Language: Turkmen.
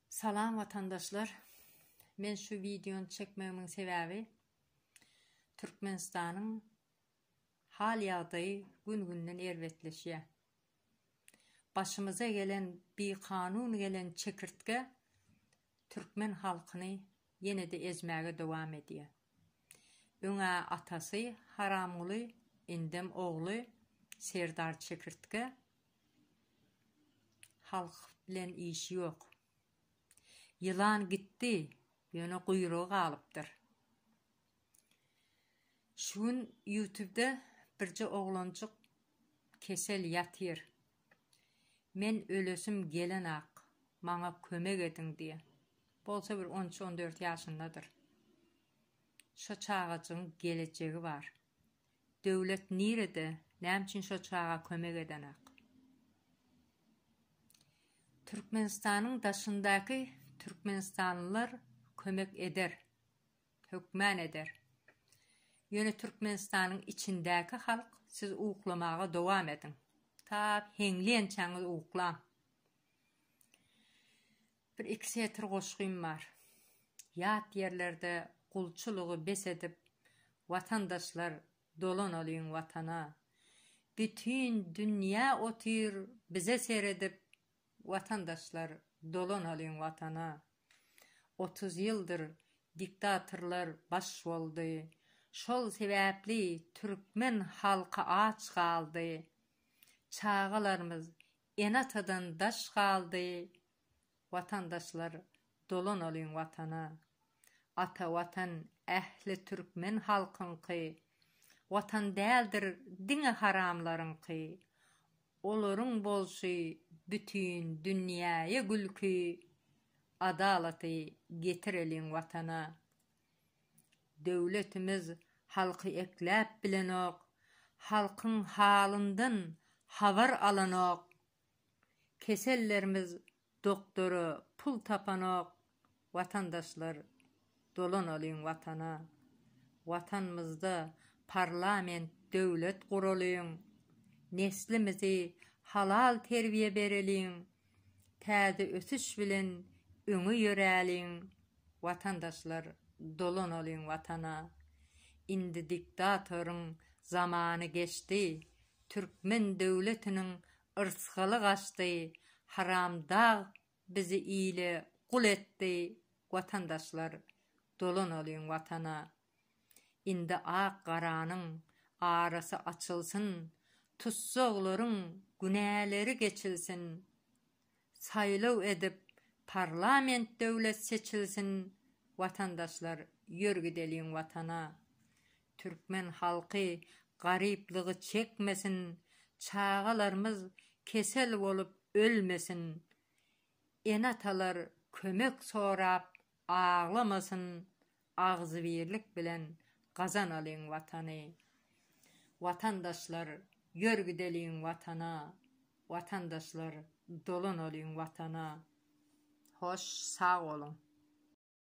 Salam watandaşlar. Men şu wideony çekmegimiň sebäbi Türkmenistanyň hal ýagdaýy gün-günden erbetleşýär. Başymyza gelen bikanun gelen çekirtge türkmen halkyny ýene-de ezmäge dowam edýär. Öň-ä atasy Haramguly, indem ogly Serdar çekirtge Halk bilen işi ýok. Ýylan gitdi, ýöne guýrugy galypdyr. Şu gün ýutubda birje oglanjyk kesel ýatyr. Men ölesim gelenok, maňa kömek ediň diýýä. Bolsa bir on üç-on dört ýaşyndadyr. Şo çagajygyň gelejegi bar. Döwlet nirede, näme üçin şo çaga kömek edenak? Türkmenistanyň daşyndaky türkmenistanlylar kömek eder, hökman eder. Ýöne Türkmenistanyň içindäki halk siz uklamaga dowam ediň. Ta heňleýänçäňiz uklaň. Bir-iki setir goşgym bar. Ýat ýerlerde gulçulygy bes edip, watandaşlar, dolanalyň Watana. Bütin dünýä otyr bize seredip, watandaşlar, dolanalyň Watana. Otuz ýyldyr diktatorlar baş boldy, şol sebäpli türkmen halky aç galdy. Çagalarymyz Ene-atadan daş galdy watandaşlar dolanalyň watana ata watan ähli türkmen halkyňky watan däldir diňe haramlaryňky olaryň bolşy bütin dünýäýe gülki adalaty getireliň watana Döwletimiz halky ekläp bilenok, halkyň halyndan habar alanok. Kesellerimiz doktora pul tapanok, watandaşlar dolanalyň watana. Watanymyzda parlament döwlet guralyň, neslimizi halal terbiýe bereliň, Täze ösüş bilen öňe ýöräliň watandaşlar dolanalyň watana indi diktatoryň zamany geçdi türkmen döwletiniň yrsgaly gaçdy haramdag bizi ile gul etdi watandaşlar dolanalyň watana. Indi ak-garanyň arasy açylsyn, tussaglaryň günäleri geçilsin. Saýlaw edip parlament döwlet seçilsin Watandaşlar ýör gideliň watana. Türkmen halky garyplygy çekmesin, çagalarmyz kesel bolup ölmesin. Ene-atalar kömek sorap aglamasyn Agzybirlik bilen gazanalyň Watany! Watandaşlar, ýör gideliň Watana! Watandaşlar, dolanalyň Watana! Hoş, sag boluň!